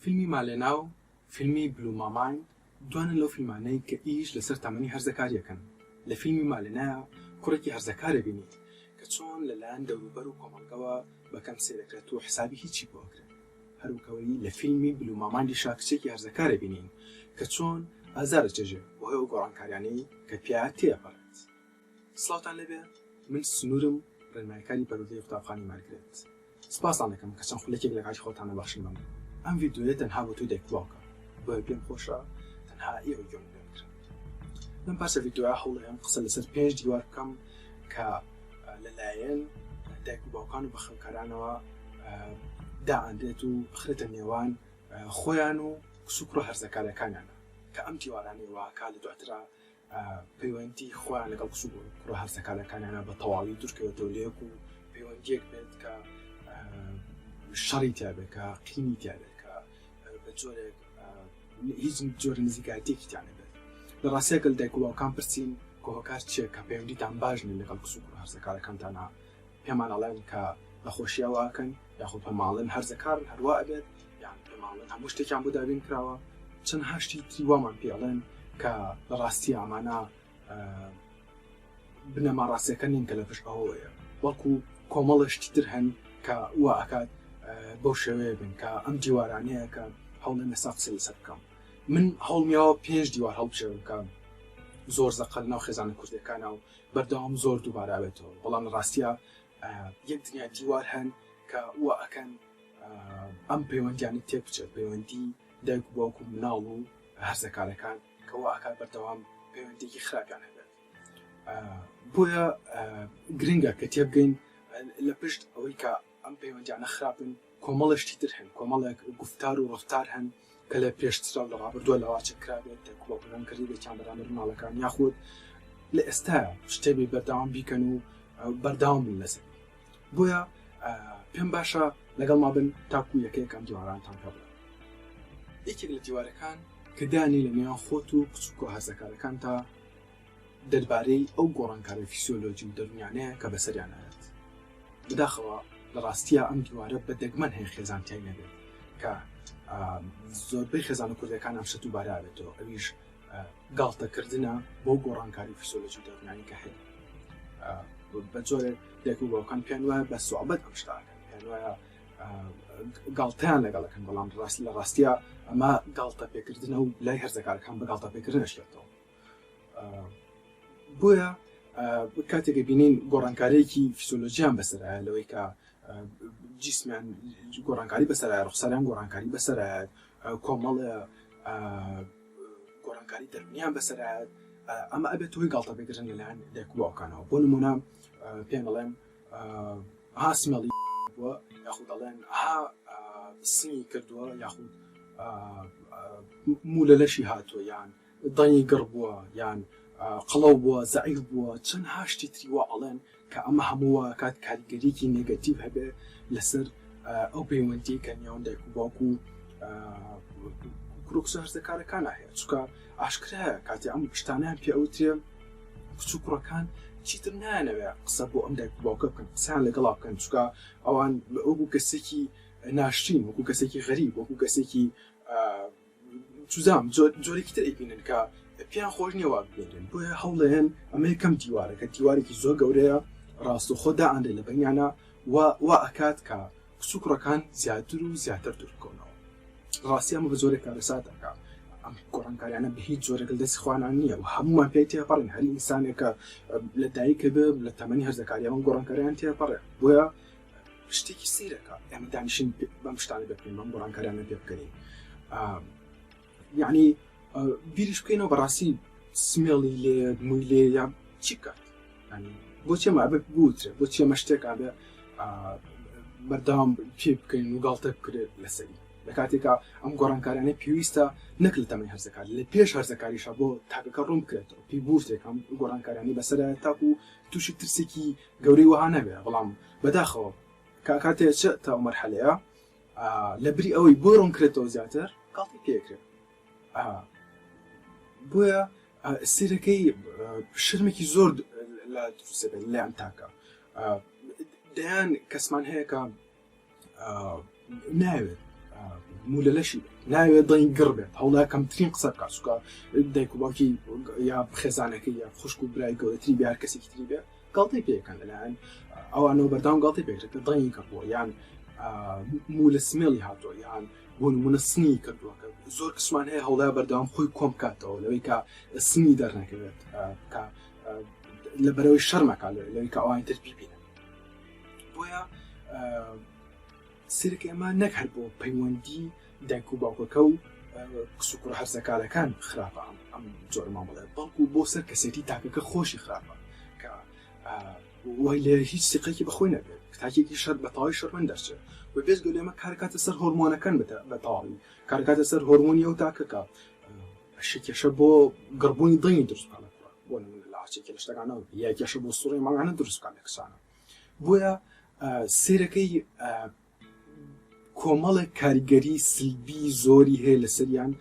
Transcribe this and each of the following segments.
فیلمی مالێنا و فیلمی بلو ماماین دوانن لەو فیلمانەی کە ئیش لەسەر تەمەنی هەرزەکاری ئەکەن، لە فیلمی مالێنایا کوڕێکی هەرزەکار ئەبینیت کە چۆن لەلایەن دەوروبەر و کۆمەڵگەوە بە کەم سەیر ئەکرێت و حسابی هیچی بۆ ئەکرێت، هەروەکەوەی لە فیلمی بلو مامایندیشا کچێکی هەرزەکار ئەبینین کە چۆن ئازار ئەچێژێ بەهۆی ئەو گۆڕانکاریانەی کە پیا تێ ئەپەڕێت. سڵاوتان لێبێ من سنورم ڕێنماییکاری پەروەردەی قوتابخانەی مارگرێت سپاستان دەکەم کە چەند خولەکێک لە کاتی خۆتان دەبەخشن بەمن ئەم ڤیدیۆیە تەنها بۆ تۆی دایک بڵاوکە بۆیە پێم خۆشە تەنها ئێوەی گوێمان لێ بگرن لەم پارچە ڤیدیۆیە هەوڵەیەم قسە لەسەر پێنج دیوار بکەم کە لەلایەن دایک و باوکان و بەخەوکارانەوە دائەنرێت و بخرێتە نێوان خۆیان و کچ و کوڕە هەرزەکارەکانیانە کە ئەم دیوارانەی واکا لە دواترا پەیوەندی خۆیان لەگەڵ کچ و کوڕە هەرزەکارەکانیانە بە تەواوی دوورکەوێتەوە لە یەک و پەیوەندیەک بێت کە شەڕی تابێکە قینی تابێکە بە جۆرێک هیچ جۆر نزیکاتێکی تیانە بێت لە ڕاستەکەل دایکوڵاوکان پرسین کۆهۆکار چیە کە پەیوەندیتان باشن لەگەڵ کچ و کوڕ هەرزەکارەکانتانە پێمان ئەڵێن کە لە خۆشیا وا ئەکەن یاخۆ پێمان ئەڵێن هەرزە کارن هەر وا ئەبێت یان پێمان ئەڵێن هەموو شتێکیان بۆ دابین کراوە چەندها شتی تری وامان پێ ئەڵێن کە لە ڕاستی ئەمانە بنەما ڕاستەکە نین کە لە پشت ئەوەیە بەڵکو کۆمەڵە شتی تر هەن کە وا ئەکات بەو شێوەیە بن کە ئەم دیوارانەیە کە هەوڵێن لەسا قسە لەسەر بکەم من هەوڵمیاوە پێنج دیوار هەڵبژێرم کە زۆر زەقل ناو خێزانە کوردەکانە و بەردەوام زۆر دووبارە ئەبێتەوە بەڵام لە ڕاستیا یەک دنیا دیوار هەن کە وا ئەکەن ئەم پەیوەندیانە تێک بچێت پەیوەندی دایک و باوک و مناڵ و هەرزەکارەکان کە وا ئەکات بەردەوام پەیوەندێکی خراپیان هەبێت بۆیە گرنگە کە تێبگەین لە پشت ئەوەی کە ئەم پەیوەندیانە خراپن، کۆمەڵێ شتی تر هەن، کۆمەڵێک گوفتار و ڕەفتار هەن کە لە پێشترا و لە ڕابردووە لاواز کرابێت، دەک بۆ پلان کردبێتیان بەرامبەر مناڵەکان، یاخود لە ئێستایا شتێ بێ بەردەوام بیکەن و بەردەوام بن لەسەر. بۆیە پێم باشە لەگەڵ ما بن تاکو یەکەیەکان دیوارانتان پێ بڵێن. یەکێک لە دیوارەکان کە دانی لە نێوان خۆت و کچ و کۆهەرزەکارەکانتا، دەربارەی ئەو گۆڕانکاریە فیسیۆلۆجی و دەروونیانەیە کە بەسەریان ئەیات. بەداخەوە لە ڕاستییا ئەم دیوارە بە دەگمەن هەیە خێزان تیای نەبێت کە زۆربەی خێزانە کوردەکان ئەم شەتو بارە ئەبێتەوە ئەویش گاڵتە کردنە بەو گۆڕانکاری فیسیۆلۆجی و دەروونیانی کە هەیە. بە جۆرێک دایک و باوکان پێیان وایە بە سوعبەت ئەم شتە ئەکەن پێیان وایە گاڵتەیان لەگەڵ ئەکەن بەڵام ڕاست لە ڕاستییا ئەمە گاڵتە پێکردنە و لای هەرزەکارەکان بە گاڵتە پێکردنە شێتەوە. بۆیە کاتێک بینین گۆڕانکارێکی فیسۆلۆژیان بەسەرایە لەوەی کە جیسمیان گۆڕانکاری بەسەرە ڕخسەریان گۆڕانکاری بەسەرە کۆمەڵ گۆڕانکاری دەرمیان بەسەرە ئەمە ئەبێت توی گڵتە بگرن لەلایەن دەکبووەکانەوە بۆ نمونە پێم بڵێم هاسمەڵی بووە یاخود دەڵێن ها سنگی کردووە یاخود موو لە لەشی هاتووە یان دەنگی گڕ بووە یان قەڵەو بووە زەعیف بووە چەنها شتی تری وا ئەڵێن کە ئەمە هەموو وا ئەکات کاریگەریەکی نێگەتیڤ هەبێ لەسەر ئەو پەیوەندیەی کە نێوان دایک و باوک و کوڕکوسە هەرزەکارەکانە هەیە چکە ئاشکرایە کاتی ئەم شتانیان پێ ئەوترێ کچ و کوڕەکان چیتر نایانەوێ قسە بۆ ئەم دایک باوکە بکەن قسەیان لەگەڵا بکەن چکە ئەوان وەکو کەسێکی ناشرین وەکو کەسێکی غەریب وەکو کەسێکی چوزام جۆرێکی تر ئەیبینن کە پێیان خۆش نییە وا ببینرێن بۆیە هەوڵێن ئەمە یەکەم دیوارە کە دیوارێکی زۆر گەورەیە ڕاستەخۆ دائەنرێ لە بەینانە و وا ئەکات کە کچ و کوڕەکان زیاتر و زیاتر دوور بکەونەوە ڕاستی ئەمە بە جۆرێک کارەسات ئەکا ئەم گۆڕانکاریانە بە هیچ جۆرێک لە دەستی خوانان نییە و هەمووان پێی تێپەڕین هەر ئینسانێکە لە دایکە بێ لە تەمەنی هەرزەکاری ئەم گۆڕانکاریان تێپەڕێ بۆیە شتێکی سیرەکە ئەمە دانیشن بەم شتانە دەکەین بەم گۆڕانکارانە پێ بکەین یعنی بیریش بکەینەوە بەڕاستی سمێڵی لێ موی لێ یا چی بکات بۆچێ ما بە بوترێ بۆچێ مە شتێکا بێ بەردام پێ بکەین و گاڵتە بکرێت لەسەری لە کاتێکا ئەم گۆڕانکارانە پێویستە نەک لە تەمەی هەرزەکار لە پێش هەرزەکاریشە بۆ تاکەکە ڕوون بکرێتەوە پێی بورتێکم گۆڕانکارانی بەسەر تاکو تووشی ترسێکی گەورەی وەها نەبێ بەڵام بەداخەوە کاکە تێچە تا ئەو مەرحەلەیە لە بری ئەوەی بۆی ڕوونکرێتەوە زیاتر گاڵتەی پێکرێت بۆیە سیرەکەی شرمێکی زۆر لە دروستەکە لەیان تاکە دەیان کەسمان هەیەکە ناوێت مولە لەشی ناوێت دڵی گڕ بێت هەوڵا کەمترین قسە بکە سوکە دایک و باوکی یا خێزانەکە یا خوشک و برای گەورەتری بیار کەسێکی تری بێت گڵتی پێکەن لەلایەن ئەوانەوە بەردام گڵتی پێکرێت دڵی گڕ بووە یان مولە سمێڵی هاتۆ یان بۆن منە سنی کردووەکە زۆر کسمان هەیە هەوڵای بەردەوام خۆی کۆم کاتەوە لەوەی کە سنی دەرنەکەوێت لە بەرەوەی شەرمەکە لەوەی کە ئەوانی تر پیبینن بۆیە سرک ئەمە نەک هەر بۆ پەیوەندی دایک و باوکەکە و کسوکوڕ هەرزەکارەکان خراپە ئەم جۆر مامەڵێ بەڵکو بۆ سەر کەسێتی تاکەکە خۆشی خراپە کە وای لێ هیچ سیقێکی بەخۆی نەبێت تاکێکی شەر بە تەواوی شەرمن دەرچێت و بێزگە لێمە کارکاتە سەر هۆرمۆنەکان بە تەواوی کارکاتە سەر هۆرمۆنی ئەو تاکەکە ئەشی کێشە بۆ گڕبوونی دڵی دروستکانە بۆ نمونە لە هەرچێکی لە شتەکانەوە یا کێشە بۆ سوڕی ماڵانە دروستکان لە کەسانە بۆیە سیرەکەی کۆمەڵێک کاریگەری سلبی زۆری هەیە لەسەریان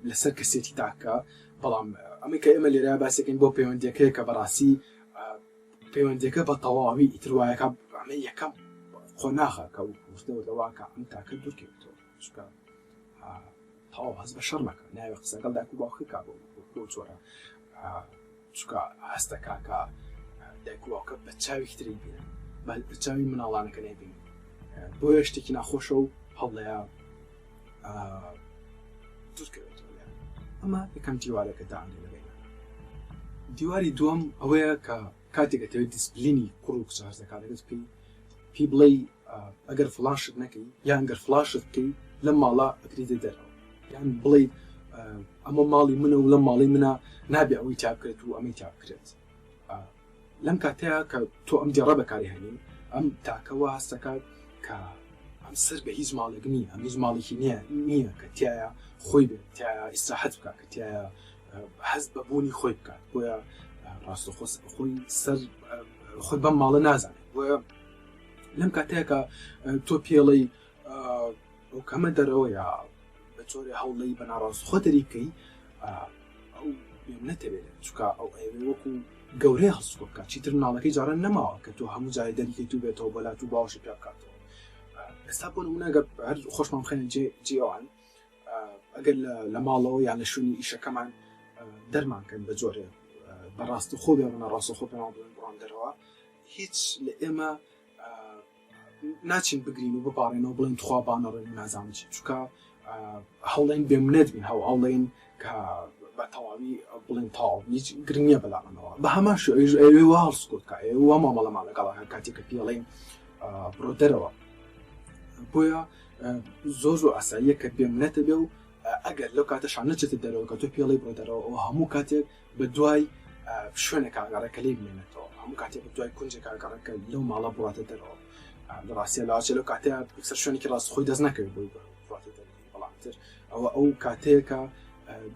لەسەر کەسێتی تاکە بەڵام ئەمە کە ئێمە لێرا باسەکەین بۆ پەیوەندەکەی کە بەڕاستی پەیوەندەکە بە تەواوی ئیتروایەکە ئەمە یەکەم قۆناغە کە وتنەوەواکە ئەم تاکە دوورکەوتەوە خوشکە ئا تەواو هەست بە شەڕ مەکە ناوێ قسە لەگەڵ دایک و باوکت کا بۆ بۆ چۆرە چکە هەستە کاکە دایک و باوکە بە چاوێکی تری بینن بە بە چاوی مناڵانەکە نەبین بۆ شتێکی ناخۆشە و هەڵەیە دوورکەوێت ئەمە یەکەم دیوارەکە داانێ لەبێنە دیواری دووەم ئەوەیە کە کاتێک ئەتەوێت دیسپلینی کوڕ و کچە هەرزەکانەکەت بکەی پێی بڵێی ئەگەر فڵان شت نەکەی یان گەر فڵان شت بکەی لەم ماڵە ئەکریتە دەرەوە یان بڵێیت ئەمە ماڵی منە و لەم ماڵی منە نابێ ئەوەی تا بکرێت و ئەمەی تا بکرێت لەم کاتەیە کە تۆ ئەم دێڕە بەکاری هەنی ئەم تاکەوە هەستەکات کە ئەم سەر بە هیچ ماڵێک نییە ئەم هیچ ماڵێکی نییە نییە کە تایە خۆی بێت تایە ئیسراحەت بکە کە تایە هەست بە بوونی خۆی بکات بۆیە ڕاستەخۆ خۆی سەر خۆی بەم ماڵە نازانێت بۆیە لەم کاتێکە تۆ پێڵەی ئەو کەمە دەرەوەیە بە چۆری هەوڵی بە ناڕاست خۆ دەریکەی ئەو نەتەوێت چکە ئەو ئەوێ وەکو گەورەی هەڵسکۆ بکات چیتر ناڵەکەی جاران نەماوە کە تۆ هەموو جای دەریکەی تو بێتەوە بەلات و باوەشی پێ بکاتەوە ئێستا بۆ منەگە هەر خۆشمان بخێنە جێ جیوان ئەگەر لە ماڵەوە یان لە شوێنی ئیشەکەمان دەرمانکەن بە جۆرێ بە ڕاستەخۆ بێ منە ڕاستەخۆ پێمان بڵێن بڕۆن دەرەوە هیچ لە ئێمە ناچین بگرین و بپارێنەوە بڵێن تخوا بانەڕێن نازانم چی چکە هەوڵێن بێمنێت بین هەو ئەڵێن کە بە تەواوی بڵێن تەواو هیچ گرنگ نییە بەلامانەوە بە هەمان شێوەیش ئەوێ وا هەڵسوکەوت کە ئەوێ وا مامەڵەمان لەگەڵ هەر کاتێک کە پێڵێن آه، بڕۆ دەرەوە بۆیە آه، زۆر زۆر ئاساییە کە بێم نەتە بێ و آه، ئەگەر لەو کاتەشان نەچێتە دەرەوە کە تۆ پێڵی بڕۆ دەرەوە ئەو هەموو کاتێک بە دوای آه، شوێنە کاگەڕێکە لێ بمێنێتەوە هەموو کاتێک بە دوای کونجێک کاگەڕێکە لەو ماڵە بڕاتە دەرەوە آه، لە ڕاستە لاچێ لەو کاتەیە سەر شوێنێکی ڕاست خۆی دەست نەکەوێت بۆی بڕاتە دەرەوە بەڵام تر ئەوە ئەو کاتەیەکە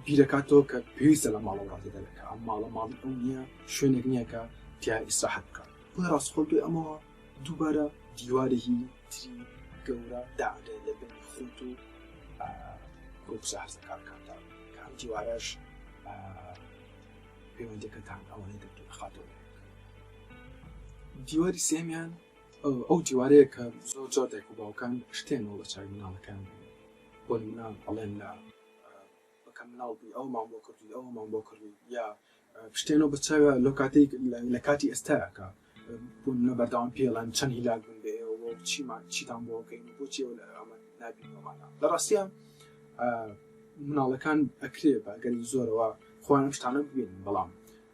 بیرەکاتەوە کە پێویستە لە ماڵە ڕاتێدەێت کە ئەم ماڵە ماڵی ئەو نییە شوێنێک نییە کە تیا ئیسراحەت بکات بۆ ڕاستخۆ بێ ئەمەوە دووبارە دیوارێکی تری گەورە داگرێ لە بن خۆت و ڕووسازەکانکاندا کە ئەم دیوارەش پەیوەندەکەتان ئەوەی دەتون خاتەوە دیواری سێمیان ئەو دیوارەیە کە زۆر جار دایک و باوکان ئەشتێنەوە لە چاوی مناڵەکەیان دەنێن بۆ نمونە ئەڵێن لە بەکە مناڵ بووی ئەوەمان بۆ کردووی ئەوەمان بۆ کردووی یا شتێنەوە بە چاوە لەو کاتێک لە کاتی ئێستاکە بۆ نمونە بەردەوام پێڵەن چەند هیلاک بوون بێ ئێوە چیمان چیتان بۆ بکەین و بۆچی ئەوە ئەمە نابینەوەمانە لە ڕاستیە مناڵەکان ئەکرێ بە گەلی زۆرەوە خۆیان شتانە ببینن بەڵام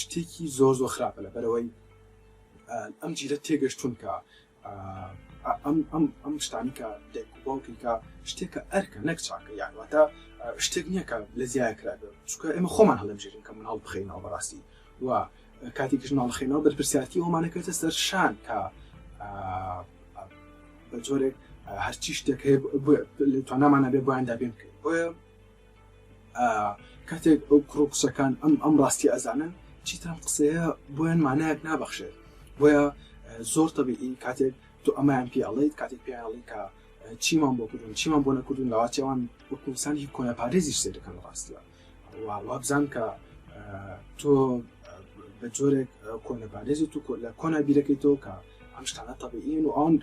شتێکی زۆر زۆر خراپە لە بەرەوەی ئەم جیلە تێگەشتون کە ئەم ئەم ئەم شتانی کە باوکی کە شتێکە ئەرکە نەک چاکە یاواتە شتێک نییە کە لە زیای کرا چکە ئێمە خۆمان هەڵەبژێرین کە مناڵ بخینەوە بەڕاستی و کاتێکش ناڵخێنەوە بەرپرسیارتی ئەومانەکەێتە سەر شان کە بە جۆرێک هەرچی شتێک هەیە توانامانە بێ بۆیان دابێن بکەین بۆیە کاتێک ئەو کوڕ و کچەکان ئەم ئەم ڕاستی ئەزانن چیتان قسەیە بۆیان مانایەک نابەخشێت بۆیە زۆر تەبیعین کاتێک تو ئەمایان پیاڵیت کاتێک پیاڵی کە چیمان بۆ کردون چیمان بۆ نەکردون لەواتیاوان وەکوسانی کۆنەپارێزی سێدەکەن ڕاستە وابزان کە تۆ بە جۆرێک کۆنەپارێزی تو لە کۆنا بیرەکەی تۆ کە ئەم شتانە تەبیین و ئەوان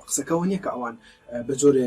قسەکەەوە نییە کە ئەوان بە جۆرێ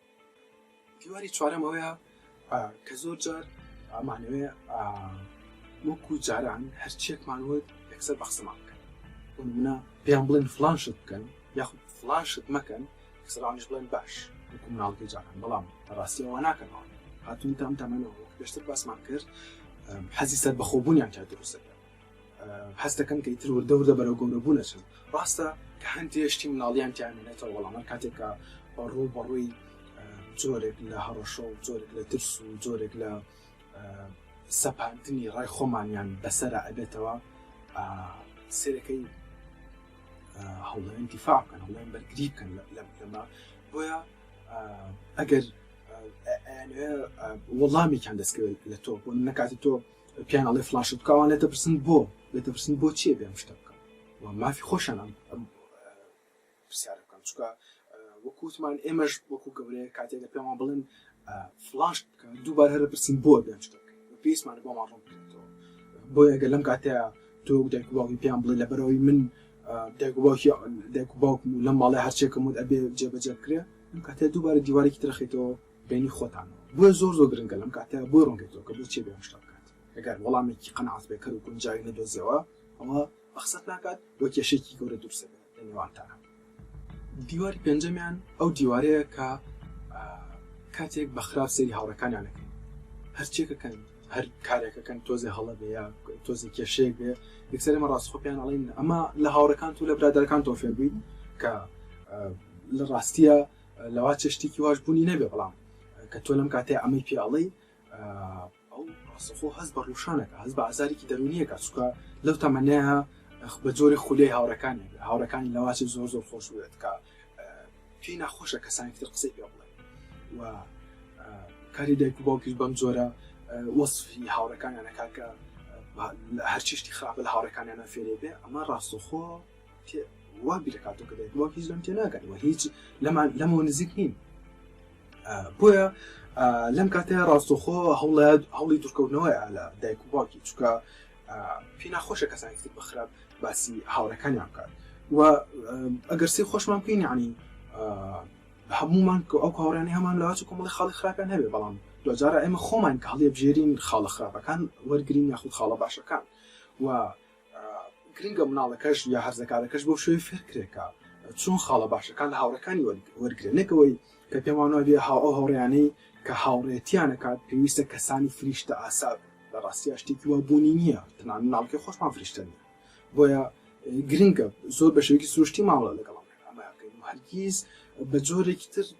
دیواری چوارەم ئەوەیە کە زۆر جار ئەمانەوێ وەکو جاران هەرچێکمان وت یەکسەر بە قسەمان بکەن منە پێیان بڵێن فلان شت بکەن یاخود فلان شت مەکەن سرانش بڵێن باش وەکو مناڵکی جاران بەڵام ڕاستی ئەوە ناکەنەوە هاتون تام تامەەوە پێشتر باسمان کرد حەزی سەر بەخۆبوونیان تا دروستەکە هەست دەکەن کە ئیتر وردە وردە بەرەو گەورەبوو نەچن ڕاستە کە هەندێ شتی مناڵیان تیانێتەوە وەڵامان کاتێکە ڕوو بەڕووی جۆرێک لە هەڕەشە و جۆرێک لە ترس و جۆرێک لە سەپاندنی ڕای خۆمانیان بەسرە ئەبێتەوە سێرەکەی هەڵێن دیفاع بکەن هەڵێن بەرگری بکەن لەمە بۆیە ئەگەر وەڵامێکیان دەستکەوێت لە تۆ بۆ نەکاتی تۆ پیان ئەڵێ فلاشت بکە ئەوان لێتە پرسن بۆ لێتە پرسن بۆ چیە بێم شتە بکەم و مافی خۆشان ئەم ئەم پرسیارە بکەم چکە وەکووتمان ئێمەش وەکو گەورەیە کاتێک لە پێمان بڵێن فلاشت بکە دووبار هەرە پرسین بۆ بێم شتە پێیسمانە بۆمان ڕوون بکرێتەوە بۆ ئەگە لەم کاتەیە تۆ دایک باوی پێیان بڵێ لەبەرەوەی من دایک باوکی دایک باوکم و لەم ماڵی هەرچێکم وت ئەبێ جێبەجێ بکرێ ئەم کاتێ دووبارە دیوارێکی ترەخیتەوە بینی خۆتان بۆیە زۆر زۆر گرنگە لەم کاتە بۆی ڕوون بێتەوە کە بۆچی ئەبێ ئەم شتە بکات ئەگەر وەڵامێکی قەناعەت پێکەر و گونجاوی نەدۆزیەوە ئەوا بەقسەت ناکات و کێشەیەکی گەورە دروست ئەبێ لە نێوانتانا. دیواری پێنجەمیان ئەو دیوارەیە کە کاتێک بە خراپ سەیری هاوڕێکانیان ئەکەن هەرچیەکە کەن هەر کارێکە کەن تۆزێ هەڵە بێ یا تۆزێ کێشەیەک بێ یەکسەر ئێمە ڕاستخۆ پێیان ئەڵێن ئەمە لە هاوڕێکانت و لە برادەرەکانتەوە فێربووین کە لە ڕاستیە لەوا چێ شتێکی واش بوونی نەبێ بەڵام کە تۆ لەم کاتێ ئەمەی پێ ئەڵێ ئەو ڕاستەخۆ هەست بە ڕوشانەکە هەست بە ئازارێکی دەرونیەکە چکە لەو تەمەەیە بە جۆری خولەی هاوڕەکانی هاوڕەکانی لەواچی زۆر زۆر خۆش بێت کە پێی ناخۆشە کەسانی تر قسەی پێ بڵێ و کاری دایک و باوکیش بەم جۆرە وەصفی هاوڕەکانیانەکە کە هەرچیشتی خراپە لە هاوڕەکانیانە فێرێ بێ ئەمە ڕاستەخۆ تێ وا بیرە کاتۆ کە دەێت وەک هیچ لەم تێ ناگەن و هیچ لەمان لەمەوە نزیک نین بۆیە لەم کاتێ ڕاستۆخۆ هەوڵات هەوڵی دوورکەوتنەوەی ئالە دایک و باوکی چکە پێ ناخۆشە کەسانی تر بخراپ باسی هاوڕەکانیان بکات و ئەگەر سی خۆشمان بکەین عنی هەمومان کە ئەو کاڕێنی هەمان لەواچ کۆمەڵی خاڵی خراپیان هەبێ بەڵام دوجارە ئێمە خۆمان کە هەڵێ بژێرین خاڵە خراپەکان وەرگین یاخود خاڵە باشەکان و گرنگە مناڵەکەش یا هەرزەکارەکەش بەو شێوەی فێرکرێت کە چۆن خاڵە باشەکان لە هاوڕێکانی وەرگرێت، نەک ئەوەی کە پێمان وایە بێ ئەو هاوڕێیانەی کە هاوڕێتیان ئەکات پێویستە کەسانی فریشتەئاسا بن، لە ڕاستیا شتێکی وا بوونی نییە، تەنانەت مناڵەکەی خۆشمان فریشتە نییە، بۆیە گرنگە زۆر بە شێوەیەکی سروشتی مامەڵە لەگەڵ ئەم پەیامانە بکەین و هەرگیز بە جۆرێکی تر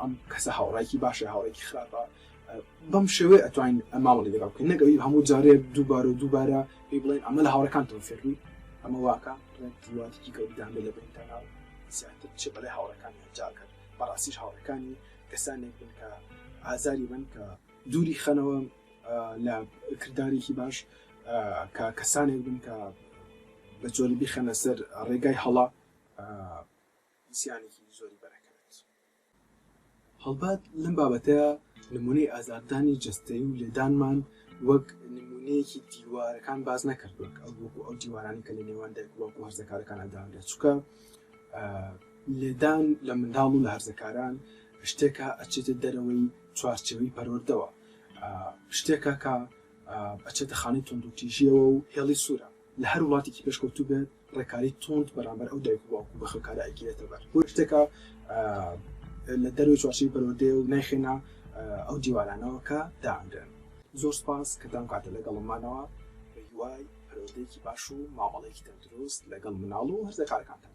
ئەم کەسە هاوڕێیەکی باشە یا هاوڕێیەکی خراپە، بەم شێوەیە ئەتوانین مامەڵەی لەگەڵ بکەین، نەک ئەوەی هەموو جارێ دووبارە و دووبارە پێی بڵێین ئەمە لە هاوڕێکانتەوە فێر بووی، ئەمە وا کە تەواوەتیی گەورەتان بێت لە بەینتانا و زیاتر بچێت بەلای هاوڕێکانی ئەنجا کەن، بەڕاستیش هاوڕێکانی کەسانێک بن کە ئازاری بن کە دووری خەنەوە لە کردارێکی باش، کە کەسانێک بن کە بە جۆری بیخەنە سەر ڕێگای هەڵە. زیانێکی زۆری بەرەکەوێت. هەڵبەت لەم بابەتەیا نمونەی ئازاردانی جەستەیی و لێدانمان وەک نمونەیەکی دیوارەکان باس نەکرد وەک ئەو وەکو ئەو دیوارانی کە لە نێوان دایک وەکو هەرزەکارەکان ئەدادا چکە لێدان لە منداڵ و لە هەرزەکاران شتێکە ئەچێتە دەرەوەی چوارچەوەی پەروەردەوە شتێکە کە ئەچێتە خانەی تونندوتیژیەوە و هێڵی سوورە لە هەر وڵاتێکی پێشکەوتوو بێت ڕێکاری توند بەرامبەر ئەو دایک و باوک و بەخێوکارە ئەگیرێتە بەر، بۆیە شتێکە لە دەرەوەی چوارچێوەی پەروەردەیە و نایخەینە ئەو دیوارانەوە کە دائەنرێن. زۆر سپاس کە تام کاتە لەگەڵم مانەوە، بە هیوای پەروەردەیەکی باش و مامەڵەیەکی تەندروست لەگەڵ مناڵ و هەرزەکارەکانتان.